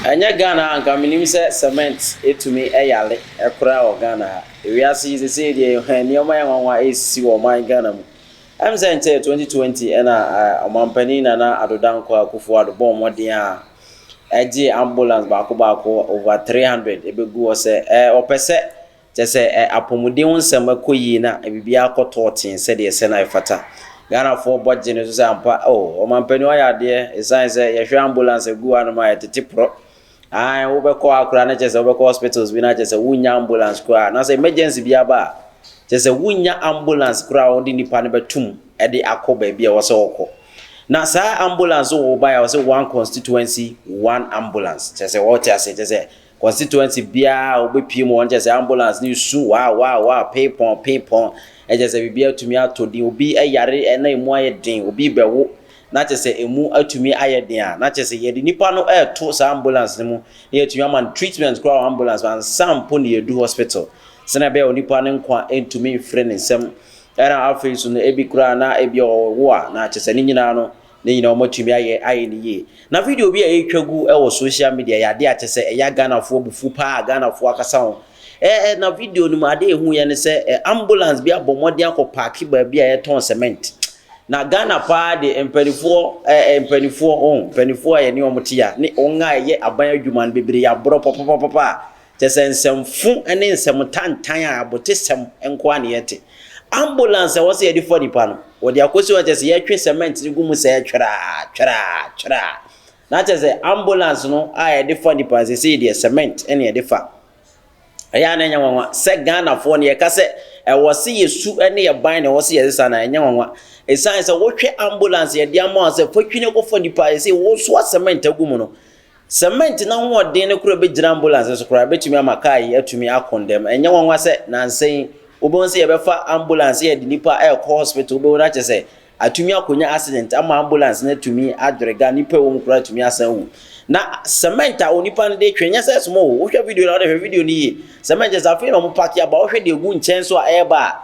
Ɛnyɛ Ghana a anka menim sɛ cement ɛtumi yare koraa wɔ Ghana ha. Wiase yi sesei deɛ hɛ nneɛma yɛ nwanwa ɛresisi wɔ ɔman Ghana mu. Ɛm sɛ nkyɛ 2020 ɛna Ɔmanpanin Nana Addo Dankwa Akuffo Addo bɔɔ mmɔden a ɛgyee ambulance baako baako over 300 ɛbɛgu hɔ sɛ ɔpɛ sɛ Kyɛ sɛ ɛ apɔmuden ho nsɛm kɔ yie na biribiara kɔ tɔɔ tee sɛdeɛ ɛsɛ na ɛfata. Ghanafoɔ bɔ gye no so sɛ ampa oh ɔmampanin wayɛ adeɛ ɛsiane sɛ yɛhwɛ ambulance agu hɔ anom a ɛtete porɔ. Aane wobɛkɔ hɔ koraa na kyerɛ sɛ wobɛkɔ hospitals bi no a kyerɛ sɛ wonnya ambulance koraa na sɛ emergency bi aba a kyerɛ sɛ wonnya ambulance koraa a wɔde nnipa no bɛto mu de akɔ baabi a ɛwɔ sɛ wɔkɔ. Na saa ambulance wɔ wo baeɛ a ɛwɔ sɛ one constituency one ambulance kyerɛ sɛ wɔte aseɛ kyerɛ sɛ Constituency biara wobɛpie mu hɔ no kyerɛ sɛ ambulance no resu waa waa waa pee pɔn pee pɔn ɛkyɛ sɛ biribi atumi atɔ din obi yare na ɛmu ayɛ den obi rebɛwo na kyɛ sɛ ɛmu atumi ayɛ den a na kyɛ sɛ yɛde nipa no ɛreto saa ambulance no mu na yɛatumi ama no treatment koraa wɔ ambulance mu ansa mpo na yɛdu hospital sɛnea ɛbɛyɛ onipa no nkwa ntumi mfiri ne nsam ɛna afei so no ebi koraa na ebi ɔwo a na kyɛ sɛ ne nyinaa no Ne nyinaa wɔatumi ayɛ ayɛ no yie. Na video bi a yɛretwa gu wɔ social media yɛ adeɛ a kyɛ sɛ ɛya Ghanafoɔ abufuo pa ara, Ghanafoɔ akasa ho. Ɛ ɛ na video no mu adeɛ a ɛhuiɛ ne sɛ ɛ ambulance bi abɔ mmɔden akɔ paake baabi a yɛtɔn cement. Na Ghana pa ara deɛ mpaninfoɔ ɛ ɛ mpaninfoɔ, oh mpaninfoɔ a yɛne wɔn te a ne wɔn a ɛyɛ aban adwuma no bebree yɛ aborɔ papapapa. Kyerɛ sɛ nsɛmfo ne nsɛm tantan a abotesɛm nko ara na yɛte. Ambulance a ɛwɔ sɛ yɛde fa nipa no, wɔde akɔsi hɔ a kyerɛ sɛ yɛtwe cement no gu mu sɛɛ tweraa, tweraa, tweraa. Na kyerɛ sɛ ambulance no a yɛde fa nipa no seesei deɛ cement na yɛde fa. Ɛyɛ a na ɛnyɛ nwanwa sɛ Ghanafoɔ no yɛka sɛ ɛwɔ sɛ yɛsu ne yɛn ban na ɛwɔ sɛ yɛsesa no a, ɛnyɛ nwanwa. Ɛsiane sɛ wohwɛ ambulance a yɛde ama wo sɛ fa twi na kɔfa nipa a seesei wosoa cement agu mu no, Sɛmɛnt n'ahoɔden no koraa bɛgyina ambulanse so koraa, ɛbɛtumi ama kaa yi atumi ako ntɛm. Ɛnyɛ nwanwa sɛ nnansa yi wobɛhu sɛ yɛbɛfa ambulanse yɛde nnipa rekɔ hospital, wobɛhu no akyɛ sɛ atumi akɔnya accident ama ambulanse no atumi adwere ga, nnipa a ɛwɔ mu koraa atumi asan awu. Na sɛmɛnt a onipa no de retwe, ɛnyɛ sɛ ɛsom o, wohwɛ video no a, wode hwɛ video no yie, sɛmɛnt kyerɛ sɛ afei na wɔpake aba, wohwɛ deɛ ɛgu nkyɛn so a ɛreba a,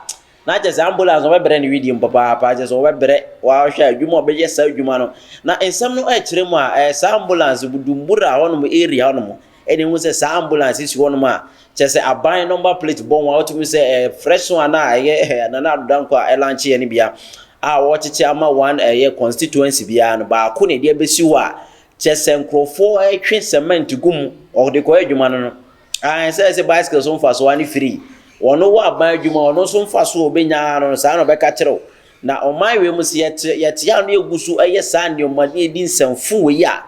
Na kyerɛ sɛ ambulance wɔbɛbrɛ no wedeɛ mu papaapa kyerɛ sɛ wɔbɛbrɛ wɔahwɛ adwuma a wɔbɛyɛ saa adwuma no na nsɛm no ɛkyerɛ mu a ɛyɛ saa ambulance Budumbura hɔnom area hɔnom ɛna ehu sɛ saa ambulance si hɔnom a kyerɛ sɛ aban number plate bɔ ho a wotumi sɛ ɛyɛ fresh one a ɛyɛ ɛyɛ Nana Addo Dankwa a ɛlankye yɛ no bia a wɔkyekyɛ ama one ɛyɛ constituency biara no baako na ɛde abɛsi hɔ a kyerɛ sɛ nkurɔfoɔ ɛtwe cement gu mu wɔde kɔyɛ adwuma no no Aane, sɛ ɛsɛ bicycle so mfasoɔ a ne firi wɔn wɔ aban adwuma ɔno nso mfasoɔ a ɔbɛnya ara no saa na ɔbɛka kyerɛ wo. Na ɔman wei mu sɛ yɛte yɛte a na yɛgu so yɛ saa nneɛma na yɛdi nsɛmfo wei a,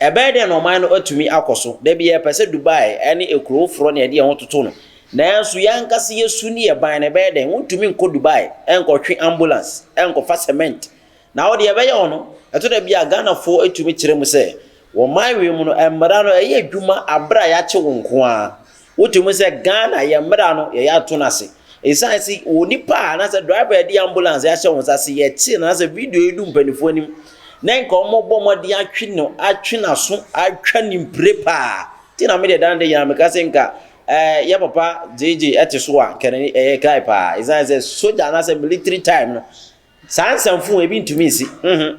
ɛbɛyɛ dɛn na ɔman no atumi akɔ so? Da bi yɛpɛ sɛ Dubai ne akuro foforɔ na yɛde yɛn ho toto no, nanso yɛn ankasa yɛn su ne yɛn ban no ɛbɛyɛ dɛn? Wontumi nkɔ Dubai nkɔtwe ambulance nkɔfa cement Na wo deɛ ɛbɛyɛ wo no, ɛtɔ da bi a Ghanafoɔ tumi kyerɛ mu sɛ wɔ man wei mu no mmara no ɛyɛ adwuma aberɛ a yɛakye wo nko ara. Wote mu sɛ Ghana yɛn mmara no yɛyɛ ato no ase. Ɛsiane se onipa a anaasɛ driver a ɛde ambulance ahyɛ wo nsa se yɛkye no anaasɛ video yi du mpaninfoɔ anim na nka wɔbɔ mmɔden atwe no atwe n'aso atwa ne mpire paa nti na medeɛ dan de nyinaa meka se nka ɛɛ yɛ papa gyegye ɛte so a nka n'ani ɛyɛ kae paa ɛsiane sɛ sogya anaasɛ military time no Saa nsɛm fo ebi ntumi nsi. Nhun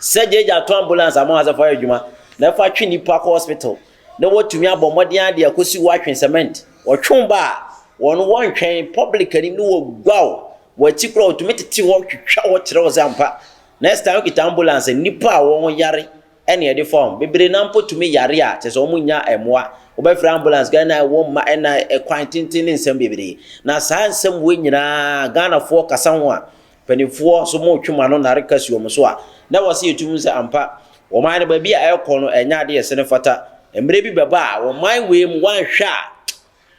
sɛ gyagya ato ambulance ama wɔasɛ fa yɛ adwuma na ɛfa twe nnipa kɔ hospital na wɔatumi abɔ mmɔden ara de akosi hɔ atwe cement. Wɔtwe wo ba a, wɔn wɔntwɛn, public anim no wɔguaw wɔ akyi koraa wɔtumi tete hɔ twitwa hɔ kyerɛ wo sɛ ampa next time wokita ambulance a nnipa a wɔn ho yare ɛne ɛde fa wɔn. Bebree no ara mpo tumi yare a, kyerɛ sɛ wɔnnya mmoa. Wobɛfrɛ ambulance, Ghana ɛwɔ mma ɛna ɛkwan tenten ne nsɛm bebree. Na saa nsɛm wei nyinaa Ghanafoɔ kasa ho a, mpanimfoɔ nso motwe mo ano nare ka si wɔn so a, na ɛwɔ sɛ yɛtu hu sɛ ampa, wɔn man no baabi a ɛrekɔ no ɛnyɛ adeɛ a ɛsɛ ne fata. Mmerɛ bi bɛba a, wɔn man wei mu, woanhwɛ a,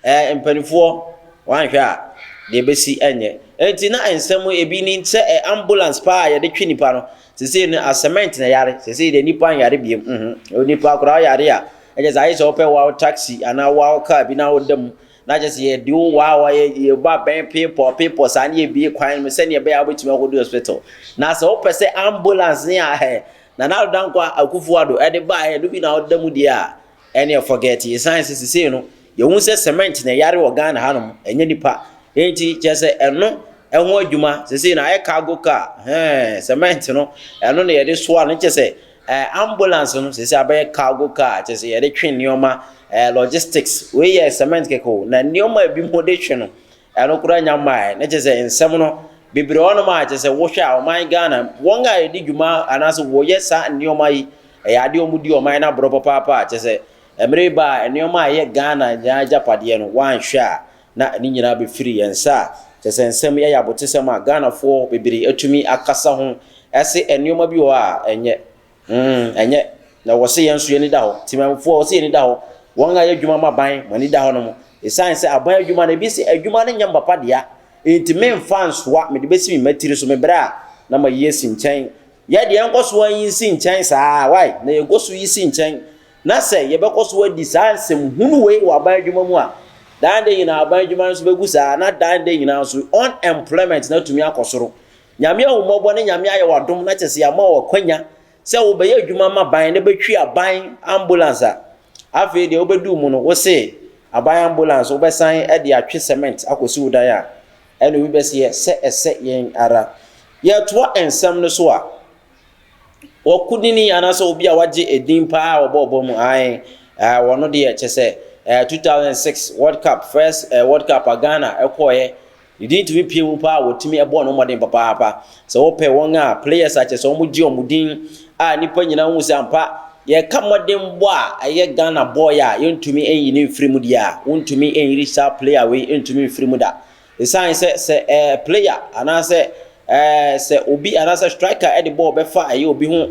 Ɛɛ, mpanimfoɔ, woanhwɛ a, deɛ ɛbɛsi nyɛ. Enti na nsɛm mu ebi ni sɛ ambulance paa a yɛde twe nnipa no, seesei no asɛmɛnt na ɛyare. Seesei deɛ nnipa nyare biom. Uhum. Onipa koraa ɔyare a, ɛkyɛ sɛ ayɛ sɛ wopɛ wow taxi anaa wow car bi na woda mu, na akyɛ sɛ yɛde wo wow a, yɛbɔ abɛn peepɔɔ peepɔɔ saa na yɛbue kwan no sɛdeɛ ɛbɛyɛ a wobɛtumi akɔdu hospital. Na sɛ wopɛ sɛ ambulance ne a, hɛ, Nana Addo Dankwa Akufo-Addo de baeɛ no bi na woda mu deɛ a, Ɛneɛ forget yɛsan sɛ sesei no yɛhu sɛ cement na ɛyare wɔ Ghana ha nom ɛnyɛ nipa enti kyerɛ sɛ ɛno ɛho adwuma sesei no ayɛ cargo car hɛɛ cement no ɛno na yɛde soa no kyerɛ sɛ ɛɛ ambulance no sesei abɛyɛ cargo car kyerɛ sɛ yɛde twe nneɛma ɛɛ logistics wei yɛ cement kɛkɛ o na nneɛma a ebi mo de twe no Ɛno koraa nya mmaeɛ na kyerɛ sɛ nsɛm no bebree wɔ nom a kyerɛ sɛ wohwɛ a ɔman Ghana wɔn a ɛdi dwuma anaasɛ wɔyɛ saa nneɛma yi ɛyɛ adeɛ wɔn di ɔman no aborɔ papaapa a kyerɛ sɛ mmerɛ ba a nneɛma a ɛyɛ Ghana nyinaa agyapadeɛ no wɔanhwɛ a na ne nyinaa bɛfiri yɛn nsa a kyerɛ sɛ nsɛm ɛyɛ abotesɛm a Ghanafoɔ bebree atumi akasa ho ɛse nneɛma bi wɔ hɔ a ɛnyɛ Humm ɛnyɛ na wɔse yɛn nso yɛn ani da hɔ, Temanmufoɔ wɔse yɛn ani da hɔ, wɔn a yɛ adwuma ma aban mo ani da hɔ nom, ɛsiane sɛ aban adwuma no ebi se adwuma no nyɛ mpapa dea enti menfa nsoa mede bɛsi me mma tiri so me brɛ a na mayi asi nkyɛn, yɛ deɛ yɛnkɔ so nyi nsi nkyɛn saa wai na yɛkɔ so yi si nkyɛn na sɛ yɛbɛkɔ so adi saa nsɛm hunu wei wɔ aban adwuma mu a dan da nyinaa aban adwuma no nso bɛgu saa na dan da nyinaa nso unemployment no atumi akɔ soro. Nyame ahummɔbɔ ne Nyame ayɛ w'adom na kyerɛ sɛ yɛama wo akwanya sɛ wobɛyɛ adwuma ma ban na bɛtwi aban ambulance a afei deɛ wobɛduu mu no wo se aban ambulance wobɛsan de atwe cement akɔsi wo dan a ɛne obi bɛseɛ sɛ ɛsɛ yɛn ara yɛtoa nsɛm no so a wɔkodini anaasɛ obi a wagye edin paa a wɔbɔ ɔbɔ mu ae eh, wɔno deɛ kyɛ sɛ eh, 2006 world cup first eh, world cup a ghana ɛkɔɔɛ Ne din tumi pue mu paa wɔtumi ɛbɔ no mmɔden papaapa sɛ wɔpɛ wɔn a players a kyerɛ sɛ wɔn gye wɔn din a nnipa nyinaa hu sɛ ampa yɛka mmɔden bɔ a ɛyɛ Ghana boy a yɛntumi nyi ne mfiri mu deɛ a wontumi nyiri saa player wei ntumi mfiri mu da ɛsiane sɛ sɛ ɛɛ eh, player anaasɛ ɛɛ eh, sɛ obi anaasɛ striker ɛde bɔɔl bɛfa ɛyɛ obi ho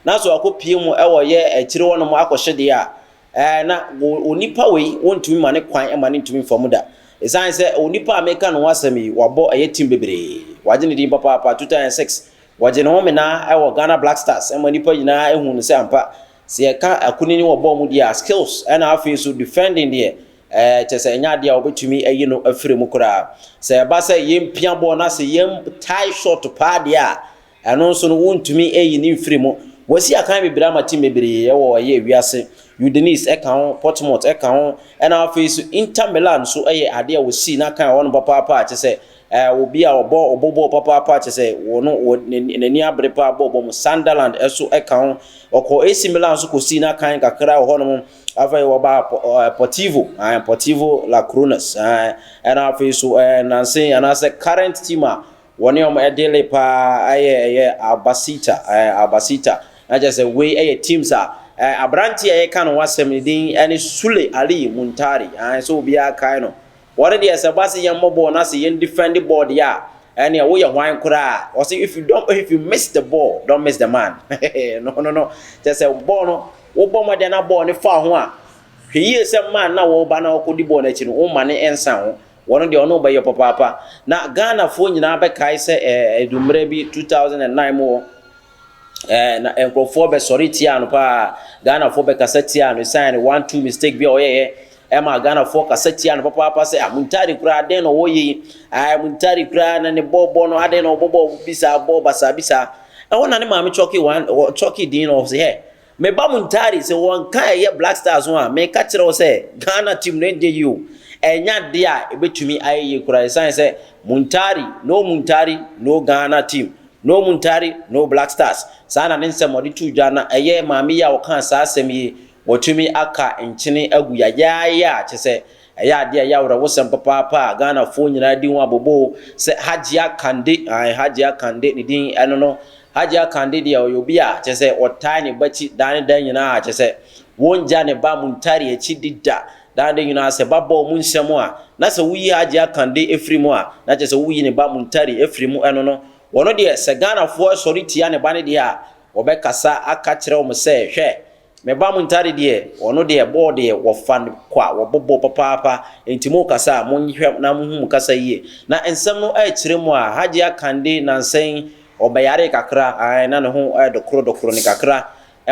na so akɔpie mu ɛwɔ yɛ akyire wɔnom akɔhye deɛ a Ɛɛ, na o, onipa wei, wontumi ma ne kwan ma ne ntumi mfa mu da. Esiane sɛ onipa a mereka ne ho asɛm yi, wabɔ ɛyɛ team bebree. Wagye ne din papaapa, 2006, wɔgyee ne ho menaa wɔ Ghana Black Stars ma nnipa nyinaa huu no sɛ ampa, sɛ yɛka akunini wɔ bɔɔl mu deɛ a, skills ɛna afei nso defending deɛ, ɛɛ, kyerɛ sɛ ɛnyɛ adeɛ a wɔbɛtumi ayi no afiri mu koraa. Sɛ ɛba sɛ yɛmpia bɔɔl na sɛ yɛn tie short paa deɛ a, Ɛno nso no, wontumi nyi no mfiri mu. Wɔasi akan bebree ama tim bebree wɔ ɛyɛ wiase. Udinese ka ho, Portsmouth ka ho, ɛna afei nso Inter Milan nso yɛ adeɛ a wɔsii no akan wɔ hɔnom papaapa a kyerɛ sɛ obi a ɔbɔ ɔbɔ bɔɔl papaapa kyerɛ sɛ ɔno n'ani abere paa bɔ bɔɔl mu. Sunderland nso ka ho. Wɔkɔɔ AC Milan nso kɔsii no akan kakra wɔ hɔnom. Afei wɔbaa Portivo, ae, Portivo La Coronas, ae, ɛna afei nso nanse anaasɛ current team a Wɔne wɔn ɛdele paa yɛ ɛyɛ Albacete ɛɛ Albacete na kyerɛ sɛ wei ɛyɛ teams a ɛɛ abranteɛ a yɛka no ho asɛm ne din ɛne Sule Ali Muntari ae sɛ obiara kae no wɔn deɛ sɛ ɛba sɛ yɛn mmɔ bɔɔl na sɛ yɛn defend bɔɔl deɛ a ɛneɛ woyɛ hwan koraa wɔsi if you don't if you miss the ball don't miss the man no no no kyerɛ sɛ bɔɔl no wobɔ mmɔden na bɔɔl no fa ho a hwɛ yie sɛ man na wɔba na wɔkɔdi bɔɔl no akyi no womma ne nsa ho Wɔn deɛ ɔne wo bɛyɔ papaapa. Na Ghana foɔ nyinaa bɛkae sɛ ɛɛ ɛdu mmerɛ bi 2009 mu hɔ ɛɛ na nkorɔfoɔ bɛsɔre tiaa no paa. Ghana foɔ bɛkasa tiaa no ɛsiane ne one two mistake bi a ɔyɛeɛ ɛma Ghana foɔ kasa tiaa no papaapa sɛ ah Muntari koraa adɛn na ɔwɔ yɛ yi ae Muntari koraa na ne bɔ bɔ no adɛn na ɔbɔ bɔ bi saa bɔ basaa bi saa. Ɛhɔ na ne maame Chɔke one Chɔke din no ɔse hɛ Me ba Muntari, sɛ wɔ nka a ɛyɛ Black Stars ho a, meka kyerɛ wo sɛ Ghana team no ɛnyɛ yie o. Ɛnyɛ adeɛ a ɛbɛtumi ayɛ yie koraa ɛsiane sɛ Muntari, no Muntari, no Ghana team, no Muntari, no Black Stars. Saa na ne nsɛm a ɔde too dwa na ɛyɛ maame yi a ɔkaa saa asɛm yi wɔtumi aka nkyene agu yayaayaa kyɛ sɛ Ɛyɛ adeɛ a ɛyɛ awerɛhosɛm papaapa a Ghanafoɔ nyinaa di ho aboboo sɛ Hajia Kande, ae Hajia Kande ne din ɛno no, Hajia Kande deɛ ɔyɛ obi a kyerɛ sɛ ɔtae ne ba akyi daa ne daa nyinaa, kyerɛ sɛ wɔngya ne ba Muntari akyi di da, daa ne da nyinaa sɛ ba bɔ wɔn nsam a na sɛ woyi Hajia Kande firi mu a na kyerɛ sɛ woyi ne ba Muntari firi mu, ɛno no ɔno deɛ sɛ Ghanafoɔ sɔre tia ne ba no deɛ a ɔbɛkasa aka kyerɛ wɔn sɛ hwɛ Me ba mo ntade deɛ, ɔno deɛ bɔɔl deɛ wɔfa no kwa, wɔbɔ bɔɔl papaapa, enti morekasa a, monhwɛ na monhu mo kasa yie. Na nsɛm no rekyere mo a, Hajiya Kande nnansa yi, ɔbɛyaree kakra, ae, na ne ho yɛ dokorodokoro no kakra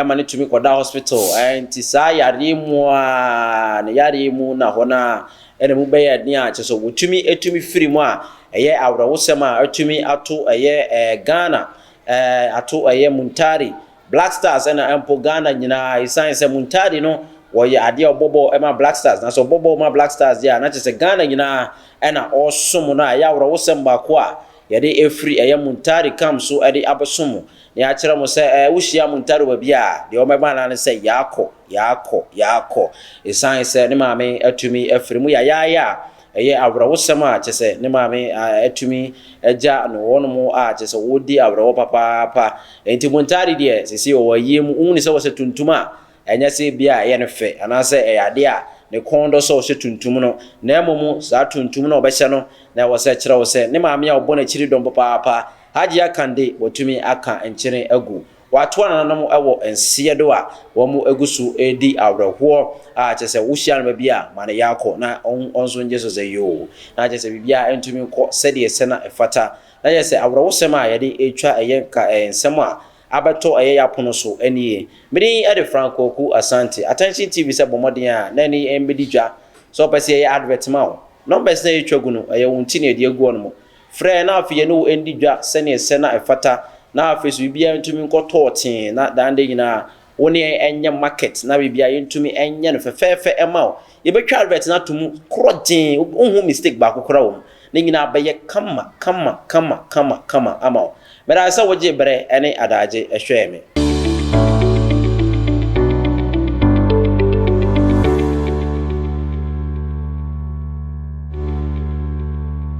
ma no tumi kɔdaa hospital, ae, nti saa yareɛ mu ara, ne yareɛ mu na hɔ no ara na mu bɛyɛɛ den a kyerɛ sɛ wɔtumi tumi firi mu a, ɛyɛ awerɛhosɛm a atumi ato ɛyɛ ɛɛ Ghana, ɛɛ ato ɛyɛ Muntari Black Stars ɛna mpo Ghana nyinaa ɛsiane sɛ Muntadi no ɔyɛ adeɛ a ɔbɔ bɔɔl ma Black Stars na sɛ ɔbɔ bɔɔl ma Black Stars deɛ a na kyerɛ sɛ Ghana nyinaa ɛna ɔresom no a ɛyɛ awerɛhosɛm baako a yɛde ɛfiri ɛyɛ Muntadi camp so ɛde abɛso mo na yɛakyerɛ mo sɛ ɛɛ wohyia Muntadi wɔ baabi a deɛ wɔbɛma no ara ne sɛ yaakɔ yaakɔ yaakɔ ɛsiane sɛ ne maame atumi afiri mu yayaaya a Ɛyɛ awerɛhosɛm a kyerɛ sɛ ne maame atumi agya no, wɔnom a kyerɛ sɛ wɔdi awerɛhoɔ papaapa. Enti Bontare deɛ seesei ɔwɔ ayie mu, wohunu sɛ ɔhyɛ tuntum a, ɛnyɛ sɛ ebia ɛyɛ no fɛ anaasɛ ɛyɛ adeɛ a ne kɔn dɔ sɛ ɔhyɛ tuntum no, na mmom saa tuntum no a ɔbɛhyɛ no na ɛwɔ sɛ ɛkyerɛ wo sɛ ne maame a ɔbɔ n'akyiri dɔm papaapa, Hajiya Kande, watumi aka nkyene agu. Wɔatoa nananom wɔ nseɛ do a wɔagu so redi awerɛhoɔ a kyerɛ sɛ wohyia no baabi a ma no yako na wɔn nso ngye so dze yoo na kyerɛ sɛ biribiara ntumi nkɔ sɛdeɛ ɛsɛ na ɛfata na kyerɛ sɛ awerɛhosɛm a yɛde retwa ɛyɛ nka nsɛm a abɛtɔ ɛyɛ y'apono so nie. Me din de Frank Kwaku Asante. Attention TV sɛ bɔ mmɔden a na ɛne yɛn mmɛdi dwa. Sɛ wopɛ sɛ yɛyɛ advert ma wo, numbers no a yɛtwa gu no ɛyɛ wo nti na yɛde agu hɔ nom. Frɛ yɛn na afei yɛne wo ndi dwa sɛnea ɛsɛ na ɛfata, na afei nso biribiara ntumi nkɔtɔɔ tee, na daa nda nyinaa wo ne yɛn nyɛ market na biribiara yɛntumi nyɛ no fɛfɛɛfɛ mma wo. Yɛbɛtwa advert no ato mu korɔgyee, wonhu mistake baako koraa wɔ mu. Ne nyinaa bɛyɛ kama kama kama kama kama ama wo. Meda ase sɛ wogyee bere ne adaagye hwɛɛ me.